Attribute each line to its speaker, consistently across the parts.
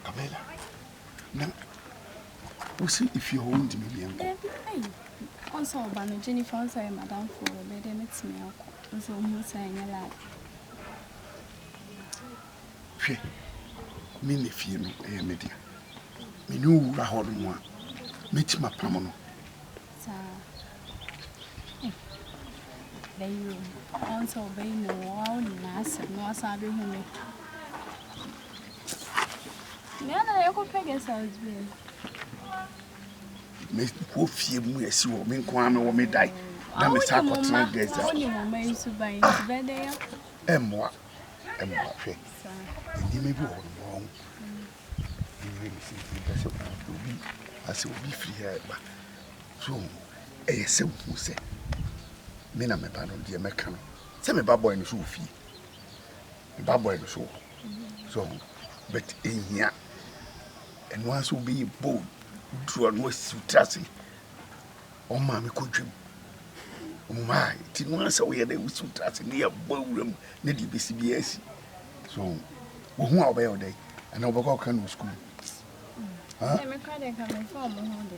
Speaker 1: Camilla, na wosi fie hɔ wontumi mmea nkɔ? Dabi, ei, ɔnsa
Speaker 2: ɔba no, Jennifer ɔnsa yɛ madamfo wɔ bɛ deɛ mɛtumi akɔ, nso ɔhu sɛ ɛnyɛ lad. Hwɛ,
Speaker 1: me ne fie no ɛyɛ me dea, me ne owura hɔ no mu a, mɛtumi apam no. Saa,
Speaker 2: eh, bɛyɛ o, ɔnsa ɔbɛyi no wɔ awo nyinaa asɛm na wasan bɛhu me. Nea na yɛkɔ Pegasus
Speaker 1: deɛ. Mekɔ fie mu asi hɔ me nko ara mewɔ me dan na me sa akɔtena guest house. Wone mo mma nso ban
Speaker 2: nti bɛdɛ yɛ. Ɛmmoa
Speaker 1: ɛmmoa hwɛ nneɛma bi wɔ hɔ no ma ɔho ɛyɛ me sɛ mepɛ sɛ obi asɛ obi firi ha ɛba so ɛyɛ sɛ wohu sɛ me na meba no deɛ mɛka no sɛ meba bɔe no so wɔ fie Ba boy no so wɔ hɔ so ɔho but ehia ɛno ara sɛ obi yɛ bold duro no asi tiri ase wɔn maame kɔ dwam wɔn maa ti no ara sɛ ɔyɛ dɛ osi tiri ase ne yɛ bɔ awura mu ne deɛ besi bi asi so wɔn ho a ɔbɛyɛ ɔdɛ ɛna ɔbɛkɔ ɔka no sukuu. Ɛmɛ kura de nka mɛ nfa ɔmo ho de.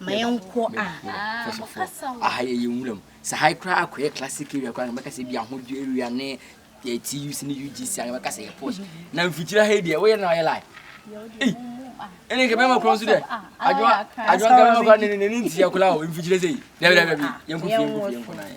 Speaker 3: ma yɛnkɔ
Speaker 4: a aha yɛ yɛ nwuram sɛ ha koraa akɔyɛ classic area koraa na mɛkasa bi ahodwo area ne yɛ tuc ne ugc a na mɛkasa yɛ posh na mfikyiri ha yi deɛ woyɛ na ɔyɛ like ɛne nka bɛma korɔ nso dɛ adwoa adwoa nka bɛma korɔ ne ne ne ntia koraa o mfikyiri sɛ yi dɛbi dɛbi yɛnkɔ fie yɛnkɔ fie yɛnkɔ na yɛ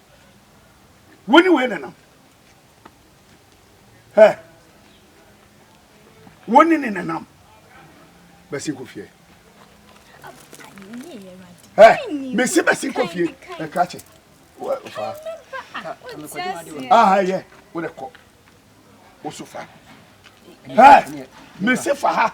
Speaker 1: Wo ne wei nenam. Hɛ. Wo ne ne nenam. Bɛsi nkɔ fie. Hɛ. Mesi bɛsi nkɔ fie. Ɛka kyɛ. Fa. Aha yɛ. Wo de kɔ. Wo so fa. Hɛ. Mesi fa ha.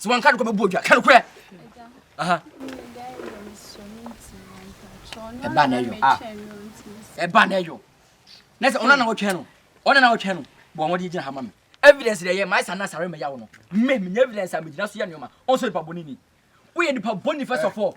Speaker 4: sɛ wɔnka nokorɛ bɛbu odwa ka nokorɛ ɛba na ɛyɔ ah. ɛba na ɛyɔ na sɛ ɔno na wɔtwɛn no ɔno na wɔtwɛn no bɔ wɔn de gyina ha ma me evidence deɛ yɛ maa sa na sare mɛya wo no me menya evidence a megyina so yɛ nneɛma ɔnso nipa bɔne ni woyɛ nipa bɔne first of all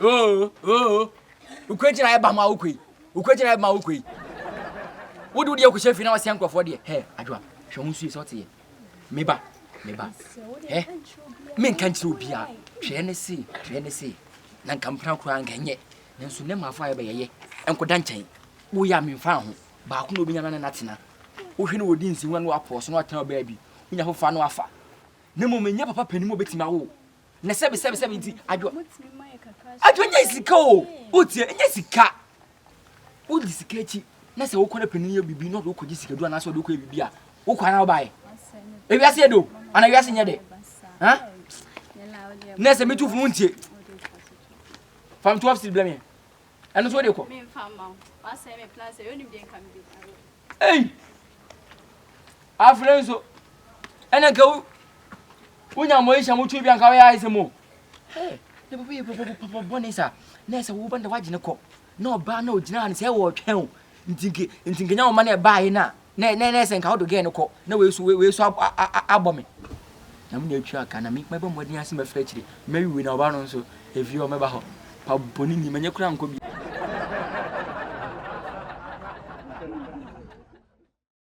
Speaker 4: Oo oo Ukwe gyina ɛba ma ukwe yi Ukwe gyina ɛba ma ukwe yi Wode wodeɛ kɔhyɛ fie na wasɛ nkurɔfoɔ deɛ Hɛ adwoa hwɛ ho nsuo sɛ ɔte yɛ Meba meba Hɛ menka nkyerɛ obiara Hwɛ ne se hwɛ ne se Na nka mpena koraa nka nyɛ Nanso nɛ maafo ayɛ bɛyɛyɛ Nkɔda nkyɛn Woyɛ a memfa ho Baako na obɛnya na ne natena Wohwɛ no wɔdi nsi ho na no apɔɔso na watena ɔbaa bi Wonya fofa no afa Na mmom ɛnyɛ papa panin mu obɛtumi awo na sɛbi sɛbi sɛbi nti adwo adwo nyɛ sika o wotie nyɛ sika wodi sika akyi na sɛ wokɔ na panin yɛ biribi na ɔde wokɔgye sikadu anaasɛ ɔde wokɔyɛ biribi a wokɔ ana wobaeɛ ewiase yɛ do ana wiase nyɛ dɛ ha na sɛ metu funu wontie fam 12 cedi blɛ meɛ ɛno so wode kɔ
Speaker 2: Ei!
Speaker 4: Afei nso, ɛna ka wo wonya mo ehyia mo twi bi anka wɔyɛ ayɛsɛm o. Hey, na bɛbɛ yɛ bɔbɔ papa bɔne sa. Na ɛsɛ wo bɛnda wagye ne kɔ. Na ɔbaa na ogyina ne sɛ wɔtwɛn o. Ntinke ntinke nya wo ma na ɛbaa yi na. Na na na ɛsɛ nka wo do gɛn ne kɔ. Na wei so wei so abɔ me. Na me na atwa aka na me mɛbɔ mmɔden ase mɛfrɛ akyire. Mɛwiwi na ɔbaa no nso efie ɔmɛba hɔ. Pa bɔne ni, manyɛ koraa nkɔ biara.